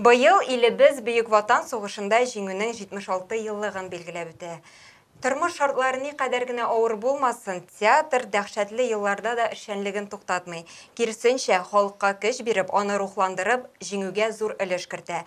Быел илебез Бөек Ватан сугышында Җиңүнең 76 еллыгын билгеләп үтә. Тормыш шартлары никадәр генә авыр булмасын, театр дәһшәтле елларда да эшчәнлеген туктатмый, киресенчә, халыкка көч биреп, аны рухландырып, Җиңүгә зур өлеш кертә.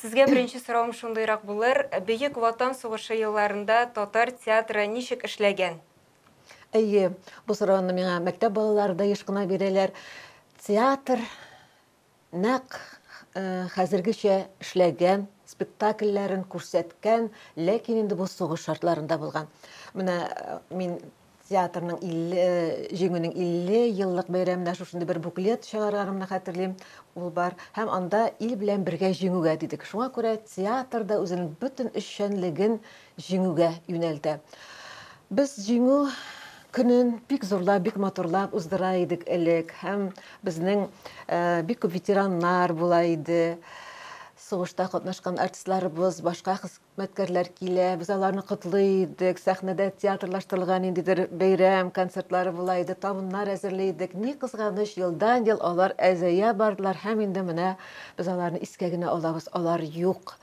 Сезгә беренче соравым шундыйрак булыр, Бөек Ватан сугышы елларында татар театры ничек эшләгән? Әйе, бу сорауны миңа мәктәп балалары да еш кына бирәләр. Театр нәкъ хәзергечә эшләгән, спектакльләрен күрсәткән, ләкин инде бу сугыш шартларында булган. Менә мин Театрның 50 җиңүнең 50 еллык бәйрәменә шушындый бер буклет чыгарганымны хәтерлим. Ул бар һәм анда ил белән бергә җиңүгә дидек. Шуңа күрә театр да үзенең бөтен эшчәнлеген җиңүгә юнәлтә. Без җиңү көнен бик зурлап, бик матурлап уздыра идек элек һәм безнең э, бик күп ветераннар була иде сугышта катнашкан артистларыбыз, башка Мәткәрләр килә, без аларны котлый идек, сәхнәдә театрлаштырылган ниндидер бәйрәм концертлары була иде, табыннар әзерли идек. Ни кызганыч, елдан-ел алар әзәя бардылар һәм инде менә без аларны искә генә алабыз, алар юк.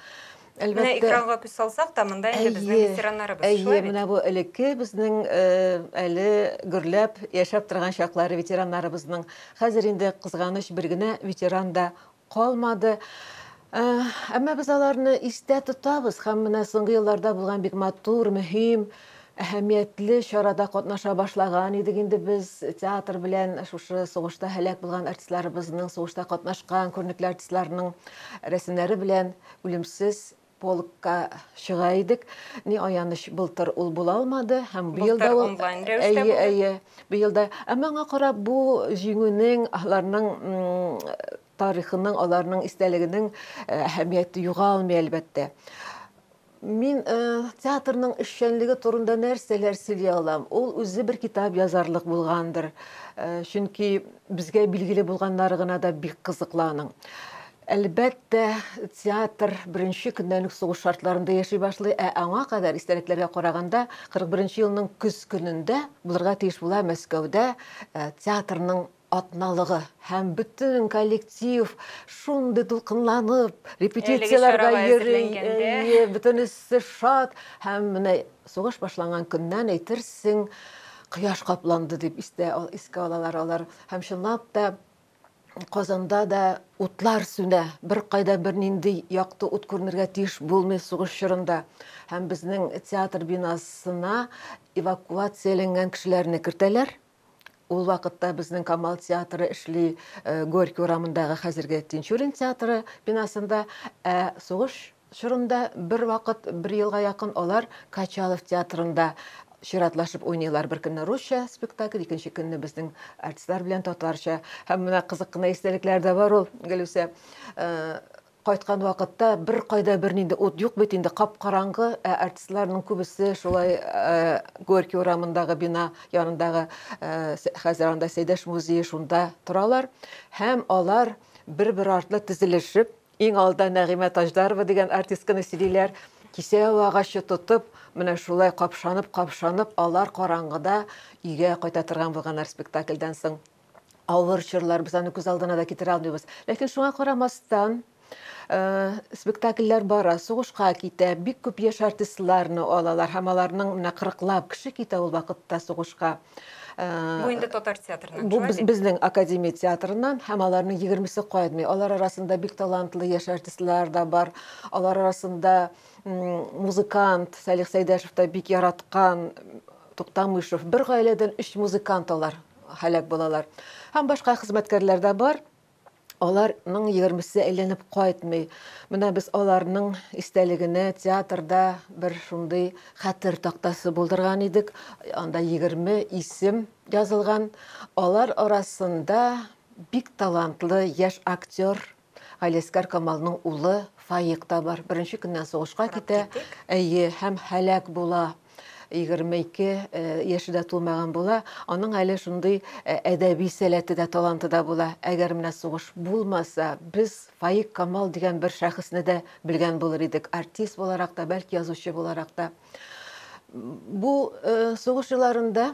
Әлбәттә. Менә экранга күз салсак та, монда инде безнең ветераннарыбыз, шулай бит? Әйе, менә бу элекке безнең әле гөрләп яшәп торган чаклары ветераннарыбызның. Хәзер инде кызганыч бер генә ветеран да калмады. Әмма без аларны истә тотабыз һәм менә соңгы елларда булган бик матур, мөһим, әһәмиятле чарада катнаша башлаган идек инде без. Театр белән шушы сугышта һәлак булган артистларыбызның, сугышта катнашкан күренекле артистларның рәсемнәре белән үлемсез Полкка чыга идек. Ни аяныч, былтыр ул була алмады һәм быел да ул онлайн рәвештә булды. Әйе, әйе, быел да. Ә моңа карап, бу җиңүнең, аларның тарихының, аларның истәлегенең э, әһәмияте югалмый, әлбәттә. Мин э, театрның эшчәнлеге турында нәрсәләр сөйли алам? Ул үзе бер китап язарлык булгандыр. Э, чөнки безгә билгеле булганнары гына да бик кызыклы аның. Әлбәттә, театр беренче көннән үк сугыш шартларында яши башлый, ә аңа кадәр, истәлекләргә караганда, 41 елның көз көнендә булырга тиеш була Мәскәүдә э, театрның атналыгы һәм бөтен коллектив шундый дулкынланып, репетицияләргә йөри, әйе, бөтенесе шат һәм менә сугыш башланган көннән әйтерсең, кояш капланды дип истә искә алалар алар һәм чынлап та Казанда да утлар сүнә, беркайда бернинди якты ут күренергә тиеш булмый сугыш чорында. Һәм безнең театр бинасына эвакуацияләнгән кешеләрне кертәләр. Ул вакытта безнең Камал театры эшли Горький урамындагы хәзерге Тинчурин театры бинасында, ә сугыш Чорында бервакыт, бер елга якын алар Качалов театрында чиратлашып уйныйлар. Бер көнне русча спектакль, икенче көнне безнең артистлар белән татарча. Һәм менә кызык кына истәлекләр дә бар ул, Гөлүсә. Кайткан вакытта беркайда бернинди ут юк бит инде, кап-караңгы, ә артистларның күбесе шулай Горький урамындагы бина янындагы, хәзер анда Сәйдәш музее, шунда торалар. Һәм алар бер-бер артлы тезелешеп, Иң алда Нәгыймә Таҗдарова дигән артистканы сөйлиләр. Кисәү агачы тотып, менә шулай капшанып-капшанып, алар караңгыда өйгә кайта торган булганнар спектакльдән соң. Авыр чорлар, без аны күз алдына да китерә алмыйбыз. Ләкин шуңа карамастан, э, спектакльләр бара, сугышка китә, бик күп яшь артистларны алалар һәм аларның менә кырыклап кеше китә ул вакытта сугышка. Бу инде татар театрыннан. Бу безнең академия театрыннан һәм аларның 20-се кайтмый. Алар арасында бик талантлы яшь артистлар да бар. Алар арасында музыкант Салих Сәйдәшев та бик яраткан Туктамышев. Бер гаиләдән 3 музыкант алар һәлак булалар. Һәм башка хезмәткәрләр дә бар. Аларның егермесе әйләнеп кайтмый. Менә без аларның истәлегенә театрда бер шундый хәтер тактасы булдырган идек. Анда егерме исем язылган. Алар арасында бик талантлы яшь актер, Галиәскәр Камалның улы Фаик та бар. Беренче көннән сугышка китә, әйе, һәм һәлак була. 22 э, яше дә тулмаган була, аның әле шундый э, әдәби сәләте дә, таланты да була. Әгәр менә сугыш булмаса, без Фаик Камал дигән бер шәхесне дә белгән булыр идек, артист буларак та, бәлки язучы буларак та. Бу э, сугыш елларында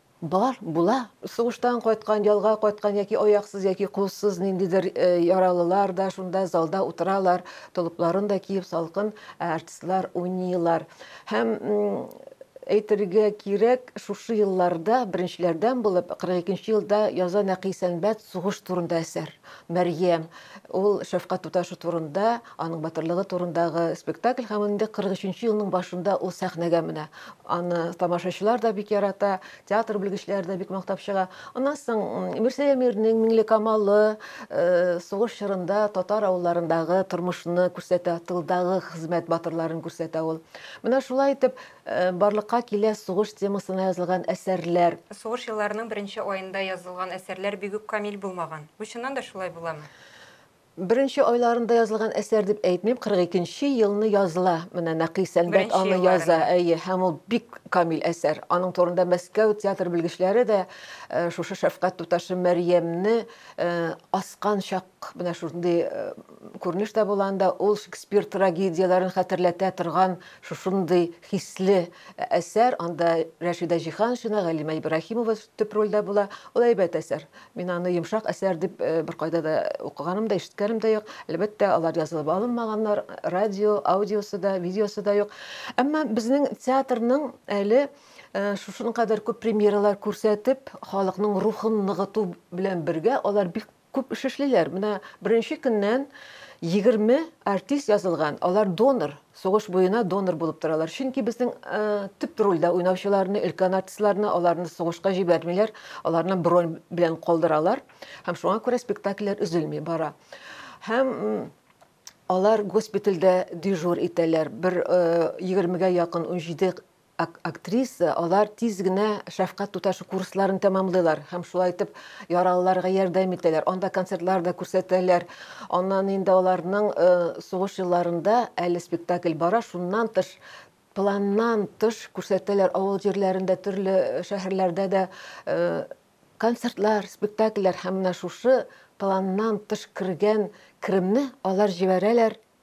Бар, була. Сугыштан кайткан, ялга кайткан яки аяксыз, яки кулсыз ниндидер яралылар да шунда залда утыралар, толыпларын да киеп салкын, ә артистлар уйныйлар. Һәм әйтергә кирәк, шушы елларда беренчеләрдән булып, 42 нче елда яза Нәкый Сәнбәт сугыш турында әсәр, Мәрьям. Ул шәфкать туташы турында, аның батырлыгы турындагы спектакль һәм инде 43 нче елның башында ул сәхнәгә менә. Аны тамашачылар да бик ярата, театр белгечләре дә бик мактап чыга. Аннан соң Мирсәя Мирнең Миңлекамалы э, сугыш чорында татар авылларындагы тормышны күрсәтә, тылдагы хезмәт батырларын күрсәтә ул. Менә шулай итеп э, барлыкка килә сугыш темасына язылган әсәрләр. Сугыш елларының беренче аенда язылган әсәрләр бигүк камил булмаган. Бу чыннан да шулай буламы? Беренче айларында язылган әсәр дип әйтмим, 42 нче елны языла. Менә Нәкый Сәнбәт аны яза, әйе, һәм ул бик камил әсәр. Аның турында Мәскәү театр белгечләре дә шушы шәфкать туташы Мәрьямне аскан чак менә шундый күренеш тә була анда, ул Шекспир трагедияләрен хәтерләтә торган шушындый хисле әсәр. Анда Рәшидә Җиһаншина, Галимә Ибраһимова төп рольдә була. Ул әйбәт әсәр. Мин аны йомшак әсәр дип беркайда да укыганым да, ишеткәнем дә юк. Әлбәттә, алар язылып алынмаганнар, радио, аудиосы да, видеосы да юк. Әмма безнең театрның әле шушының кадәр күп премьералар күрсәтеп, халыкның рухын ныгыту белән бергә алар бик күп эш эшлиләр. Менә беренче көннән 20 артист язылган, алар донор. Сугыш буена донор булып торалар. Чөнки безнең төп рольдә уйнаучыларны, өлкән артистларны, аларны сугышка җибәрмиләр, аларны бронь белән калдыралар. Һәм шуңа күрә спектакльләр өзелми бара. Һәм алар госпитальдә дежур итәләр. Бер 20-гә якын, 17 Актриса, алар тиз генә шәфкать туташы курсларын тәмамлыйлар һәм шулай итеп яралыларга ярдәм итәләр, анда концертлар да күрсәтәләр. Аннан инде аларның сугыш елларында әле спектакль бара, шуннан тыш, планнан тыш күрсәтәләр авыл җирләрендә, төрле шәһәрләрдә дә концертлар, спектакльләр һәм менә шушы планнан тыш кергән керемне алар җибәрәләр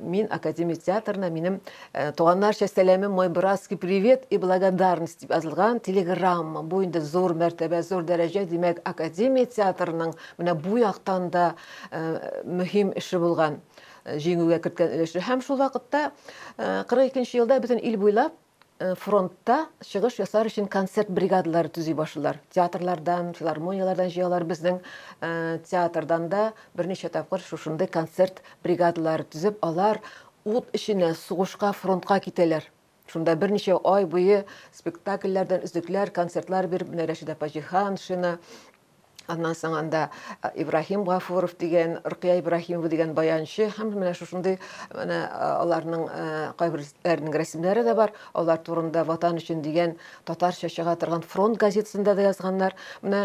Мин академия театрына минем туганнарча сәләмем мой братский привет и благодарность дип язылган телеграмма. Бу инде зур мәртәбә, зур дәрәҗә, димәк, академия театрының менә бу яктан да мөһим эше булган, җиңүгә керткән өлеше. Һәм шул вакытта 42 нче елда бөтен ил буйлап фронтта чыгыш ясар өчен концерт бригадалары төзи башлыйлар. Театрлардан, филармонияләрдән җыялар. Безнең театрдан да берничә тапкыр шушындый концерт бригадалары төзеп, алар ут эченә, сугышка, фронтка китәләр. Шунда берничә ай буе спектакльләрдән өзекләр, концертлар биреп, менә Рәшидә апа Җиһаншина, Аннан соң анда э, Ибраһим Гафуров дигән, Рукия Ибраһимова дигән баянчы һәм менә шушындый менә э, аларның э, кайберләренең рәсемнәре дә бар. Алар турында Ватан өчен дигән татарча чыга торган фронт газетасында да язганнар. Менә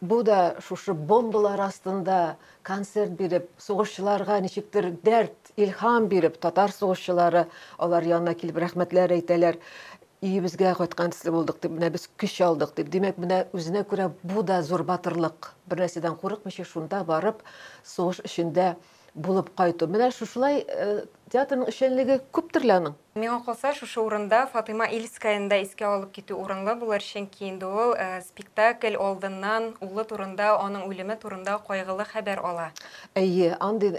бу да шушы бомбалар астында концерт биреп, сугышчыларга ничектер дәрт, илһам биреп, татар сугышчылары алар янына килеп рәхмәтләр әйтәләр. Өебезгә кайткан төсле булдык, дип, менә без көч алдык, дип. Димәк, менә үзенә күрә бу да зур батырлык. Бернәрсәдән курыкмыйча шунда барып, сугыш эчендә булып кайту. Менә шушылай театрның эшчәнлеге күптер лә аның. Миңа калса, шушы урында Фатыйма Ильскаяны да искә алып китү урынлы булыр, чөнки инде ул спектакль алдыннан улы турында, аның үлеме турында кайгылы хәбәр ала. Әйе, андый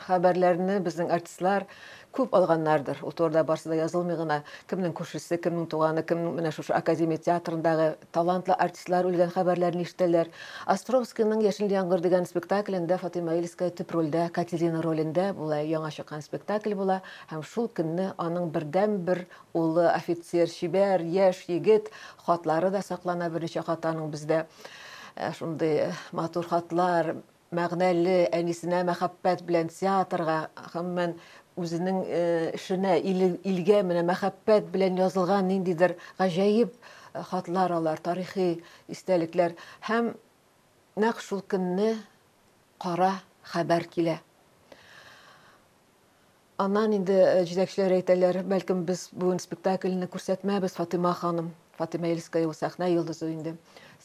хәбәрләрне безнең артистлар Күп алганнардыр, ул турыда барсы да язылмый гына, кемнең күршесе, кемнең туганы, кемнең менә шушы Академия театрындагы талантлы артистлар үлгән хәбәрләрен ишетәләр. Островскийның Яшел яңгыр дигән спектаклендә Фатыйма Ильская төп рольдә, Катерина ролендә була, яңа чыккан спектакль була һәм шул көнне аның бердәнбер улы, офицер, чибәр, яшь егет, хатлары да саклана, берничә хаты аның бездә, шундый матур хатлар. мәгънәле, әнисенә мәхәббәт белән театрга, гомумән, үзенең эшенә, илгә менә мәхәббәт белән язылган ниндидер гаҗәеп хатлар алар, тарихи истәлекләр. Һәм нәкъ шул көнне кара хәбәр килә. Аннан инде җитәкчеләр әйтәләр, бәлкем без бүген спектакльне күрсәтмәбез, Фатыйма ханым. Фатыйма Ельская ул сәхнә йолдызы инде.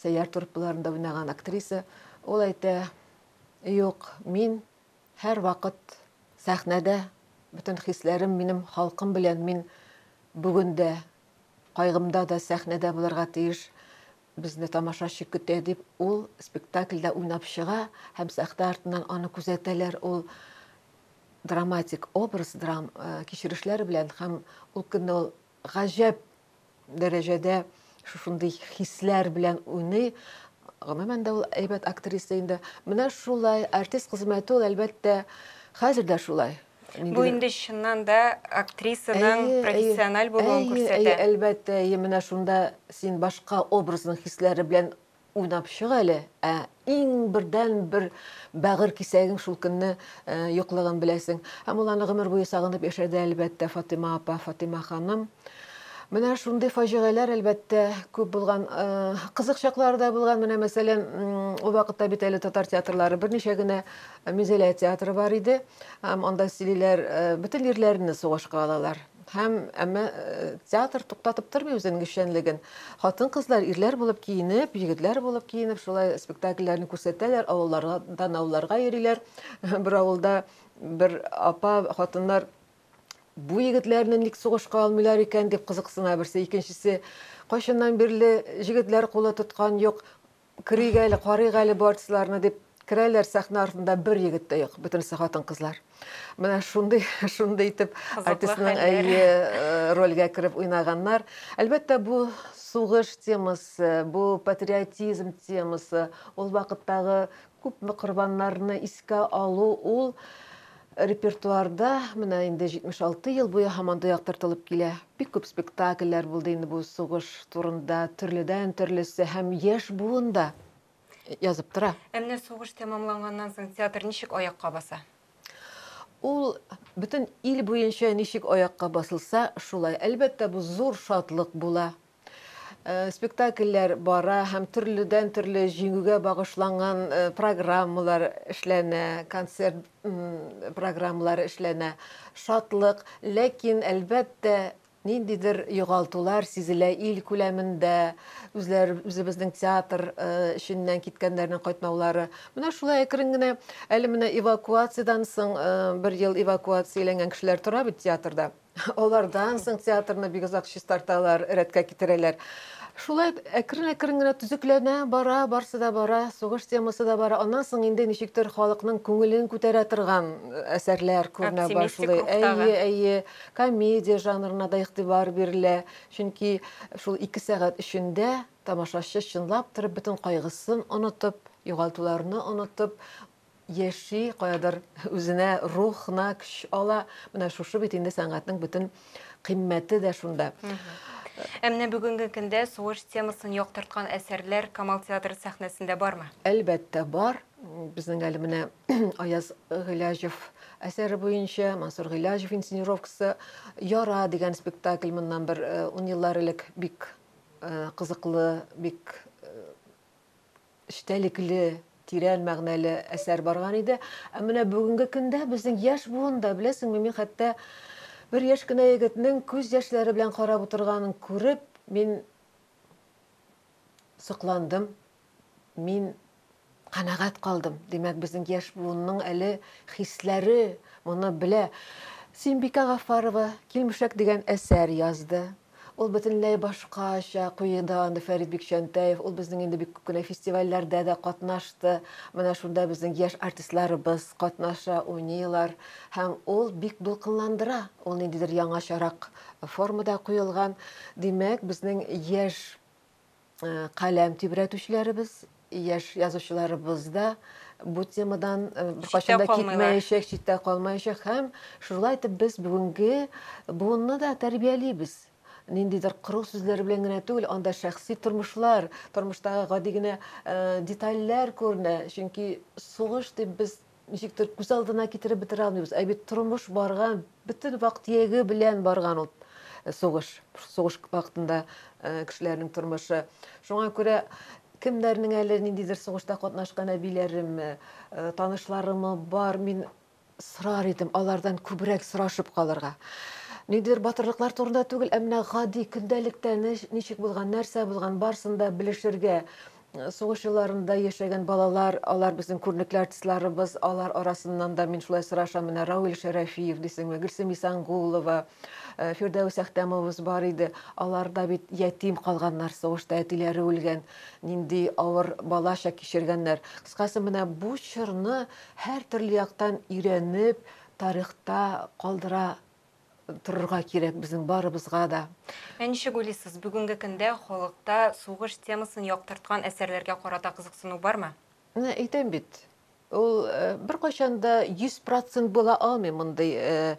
Сәйяр труппаларында уйнаган актриса. Ул әйтә, юк, мин һәрвакыт сәхнәдә, бөтен хисләрем минем халкым белән, мин бүген дә, кайгымда да сәхнәдә булырга тиеш. Безне тамашачы көтә, дип ул спектакльдә уйнап чыга һәм сәхтә артыннан аны күзәтәләр. Ул драматик образ, драм кичерешләр белән һәм ул көнне ул гаҗәп дәрәҗәдә шушындый хисләр белән уйный. Гомумән дә ул әйбәт актриса инде. Менә шулай артист хезмәте ул, әлбәттә, хәзер дә шулай. Бу инде чыннан да актрисаның профессиональ булуын күрсәтә. Әйе, әйе, әлбәттә, әйе, менә шунда син башка образның хисләре белән уйнап чык әле, ә иң бердән бер бәгырь кисәгең шул көнне юклыгын беләсең. Һәм ул аны гомер буе сагынып яшәде, әлбәттә, Фатыйма апа, Фатыйма ханым. Менә шундый фаҗигаләр, әлбәттә, күп булган. Кызык чаклары да булган. Менә, мәсәлән, ул вакытта бит әле татар театрлары берничә генә Мизелә театры бар иде. Һәм анда сөйлиләр, бөтен ирләрне сугышка алалар. Һәм әмма театр туктатып тормый үзенең эшчәнлеген. Хатын-кызлар ирләр булып киенеп, егетләр булып киенеп, шулай спектакльләрне күрсәтәләр, авыллардан авылларга йөриләр. Бер авылда бер апа, хатыннар бу егетләрне ник сугышка алмыйлар икән дип кызыксына берсе, икенчесе кайчаннан бирле җегетләр кулы тоткан юк, Керик әле, карыйк әле бу артистларны, дип керәләр, сәхнә артында бер егет тә юк, бөтенесе хатын-кызлар. Менә шундый, шундый итеп артистның әйе рольгә кереп уйнаганнар. Әлбәттә, бу сугыш темасы, бу патриотизм темасы, ул вакыттагы күпме корбаннарны искә алу, ул Репертуарда менә инде 76 ел буе һаман да яктыртылып килә. Бик күп спектакльләр булды инде бу сугыш турында, төрледән-төрлесе һәм яшь буын да язып тора. Ә менә сугыш тәмамланганнан соң театр ничек аякка баса? Ул бөтен ил буенча ничек аякка басылса, шулай. Әлбәттә, бу зур шатлык була. спектакльләр бара һәм төрледән төрле җиңүгә багышланган программалар эшләнә, концерт программалары эшләнә. Шатлык, ләкин, әлбәттә, ниндидер югалтулар сизелә ил күләмендә, үзләр үзебезнең театр эченнән киткәннәрнең кайтмаулары. Менә шулай әкрен генә, әле менә эвакуациядән соң бер ел эвакуацияләнгән кешеләр тора бит театрда. Алардан соң театрны бик озак чистарталар, рәткә китерәләр. Шулай әкрен-әкрен генә төзекләнә бара, барсы да бара, сугыш темасы да бара. Аннан соң инде ничектер халыкның күңелен күтәрә торган э, әсәрләр күренә башлый. Әйе, әйе, комедия жанрына да игътибар бирелә. Чөнки шул ике сәгать эчендә тамашачы чынлап торып бөтен кайгысын онытып, югалтуларны онытып, яши, каядыр үзенә рух на көч ала. Менә шушы бит инде сәнгатьнең бөтен кыйммәте дә шунда. Ә менә бүгенге көндә сугыш темасын яктырткан әсәрләр Камал театры сәхнәсендә бармы? Әлбәттә, бар. Безнең әле менә Аяз Гыйләҗев әсәре буенча Мансур Гыйләҗев инсценировкасы Яра дигән спектакль моннан бер э, ун еллар элек бик э, кызыклы, бик э, эчтәлекле, тирән мәгънәле әсәр барган иде. Ә менә бүгенге көндә безнең яшь буын да, беләсеңме, мин хәтта бер яшь кенә егетнең күз яшьләре белән карап утырганын күреп, мин сокландым, мин канәгать калдым. Димәк, безнең яшь буынның әле хисләре моны белә. Синбикә Гафарова Килмешәк дигән әсәр язды. Ул бөтенләй башкача куеда анда Фәрит Бикчәнтәев. Ул безнең инде бик күп кенә фестивальләрдә дә катнашты. Менә шунда безнең яшь артистларыбыз катнаша, уйныйлар. Һәм ул бик дулкынландыра. Ул ниндидер яңачарак формада куелган. Димәк, безнең яшь каләм тибрәтүчеләребез, яшь язучыларыбыз да бу темадан беркайчан да китмәячәк, читтә калмаячак һәм шулай итеп без бүгенге буынны да тәрбиялибез ниндидер кору сүзләр белән генә түгел, анда шәхси тормышлар, тормыштагы гади генә э, детальләр күренә. Чөнки сугыш дип без Ничектер күз алдына китереп бетерә алмыйбыз, ә бит тормыш барган, бөтен вак-төяге белән барган ул сугыш. Сугыш вакытында кешеләрнең тормышы. Шуңа күрә кемнәрнең әле ниндидер сугышта катнашкан әбиләреме, танышларымы бар, мин сорар идем, алардан күбрәк сорашып калырга. Ниндидер батырлыклар турында түгел, ә менә гади көндәлектә ничек булган, нәрсә булган, барсын да белешергә, Сугыш елларында яшәгән балалар, алар безнең күренекле артистларыбыз, алар арасыннан да мин шулай сорашам, менә Равил Шәрәфиев дисеңме, Гөлсем Исангулова, э, Фирдәвес Әхтәмовыбыз бар иде. Алар да бит ятим калганнар сугышта, әтиләре үлгән, нинди авыр бала чак кичергәннәр. Кыскасы, менә бу чорны һәртөрле яктан өйрәнеп, тарихта калдыра торырга кирәк безнең барыбызга да. Ә ничек уйлыйсыз, бүгенге көндә халыкта сугыш темасын яктырткан әсәрләргә карата кызыксыну бармы? Менә әйтәм бит, ул беркайчан да 100 процент була алмый мондый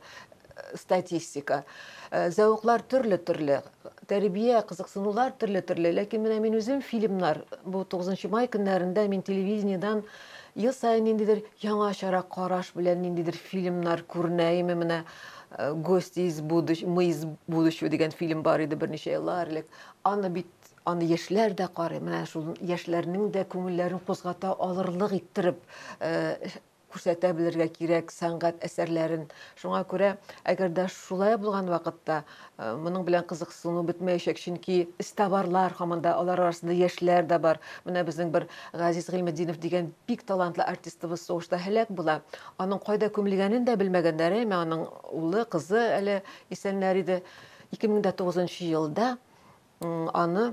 статистика. Зәвыклар төрле-төрле, тәрбия, кызыксынулар төрле-төрле. Ләкин менә мин үзем фильмнар, бу 9 май көннәрендә мин телевидениедән Ел саен ниндидер яңачарак караш белән ниндидер фильмнар күренәеме менә э, Гости из будущего, мы из будущего дигән фильм бар иде берничә еллар элек. Аны бит аны яшьләр дә карый. Менә шул яшьләрнең дә күңелләрен кузгата алырлык иттереп э, күрсәтә белергә кирәк сәнгать әсәрләрен. Шуңа күрә, әгәр дә шулай булган вакытта Моның белән кызыксыну бетмәячәк, чөнки эзтабарлар һаман да, алар арасында яшьләр дә бар. Менә безнең бер Газиз Гыйльметдинов дигән бик талантлы артистыбыз сугышта һәлак була. Аның кайда күмелгәнен дә белмәгәннәр, әмма аның улы, кызы әле исәннәр иде. 2009 елда аны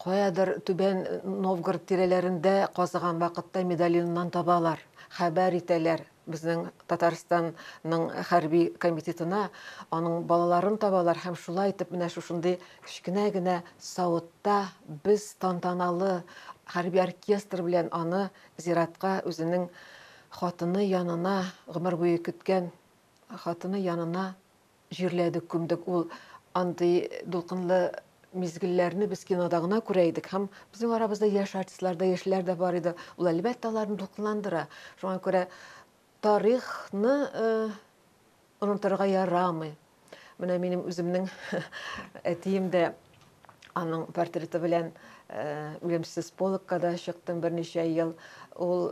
Каядыр Түбән Новгород тирәләрендә казыган вакытта медальоннан табалар. Хәбәр итәләр безнең Татарстанның хәрби комитетына, аның балаларын табалар һәм шулай итеп менә шушындый кечкенә генә савытта без тантаналы хәрби оркестр белән аны зиратка үзенең хатыны янына, гомер буе көткән хатыны янына Җирләдек, күмдек. Ул андый дулкынлы мизгелләрне без кинода гына күрә идек һәм безнең арабызда яшь артистлар да, яшьләр дә бар иде. Ул, әлбәттә, аларны дулкынландыра. Шуңа күрә тарихны онытырга ярамый. Менә минем үземнең әтием дә аның портреты белән үлемсез полкка да чыктым берничә ел. Ул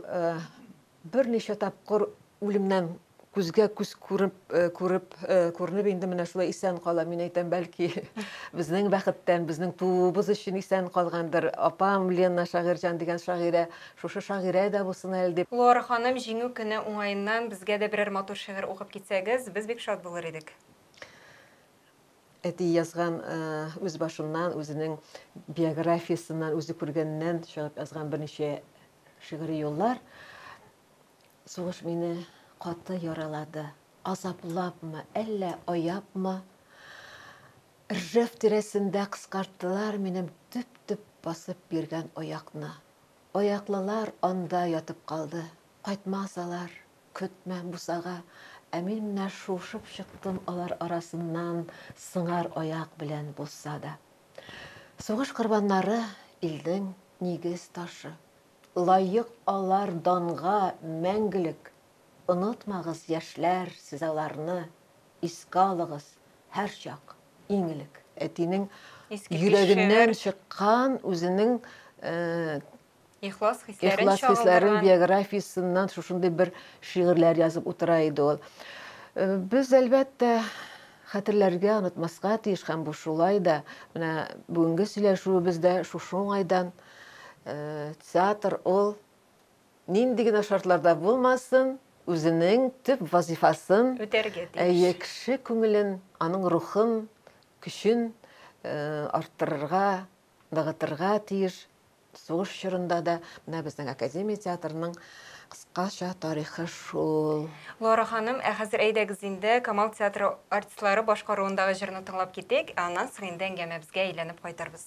Берничә тапкыр үлемнән күзгә күз күреп, күреп, күренеп инде менә шулай исән кала. Мин әйтәм, бәлки, безнең бәхеттән, безнең тууыбыз өчен исән калгандыр. Апам Лена Шагыйрьҗан дигән шагыйрә, шушы шагыйрә дә булсын әле дип. Лора ханым, Җиңү көне уңаеннан безгә дә берәр матур шигырь укып китсәгез, без бик шат булыр идек. әти язган э, үз башыннан, үзенең биографиясеннән, үзе күргәннән чыгып язган берничә шигъри юллар. Сугыш мине каты яралады. Азаплапмы, әллә аяпмы? Ржев тирәсендә кыскарттылар минем төп-төп басып биргән аякны. Аяклылар анда ятып калды. Кайтмасалар, Көтмәм бусага, ә мин менә шуышып чыктым алар арасыннан сыңар аяк белән булса да. Сугыш корбаннары, илнең нигез ташы. Лаек алар данга мәңгелек! Онытмагыз, яшьләр, сез аларны, искә алыгыз, һәрчак, иң элек. Әтинең йөрәгеннән чыккан, үзенең Ихлас хисләрен Ихлас хисләрен биографиясеннән шушындый бер шигырьләр язып утыра иде ул. Э, без әлбәттә хәтерләргә, онытмаска тиеш һәм бу шулай да. Менә бүгенге сөйләшүебез дә шушы уңайдан. Э, театр ул нинди генә шартларда булмасын, үзенең төп вазифасын үтәргә тиеш. Әйе, кеше күңелен, аның рухын, көчен э, арттырырга, ныгытырга тиеш. Сугыш чорында да менә безнең академия театрының кыскача тарихы шул. Лора ханым, ә хәзер әйдәгез инде Камал театры артистлары башкаруындагы җырны тыңлап китик, ә аннан соң инде әңгәмәбезгә әйләнеп кайтырбыз.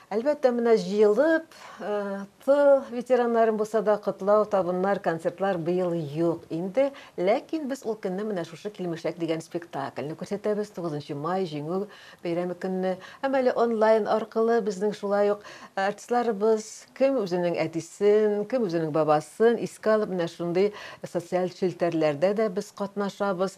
Әлбәттә, менә җыелып, тыл ветераннарын булса да котлау, табыннар, концертлар быел юк инде. Ләкин без ул көнне менә шушы Килмешәк дигән спектакльне күрсәтәбез, 9 май, Җиңү бәйрәме көнне. Һәм әле онлайн аркылы безнең шулай ук артистларыбыз кем үзенең әтисен, кем үзенең бабасын искә алып, менә шундый социаль челтәрләрдә дә без катнашабыз.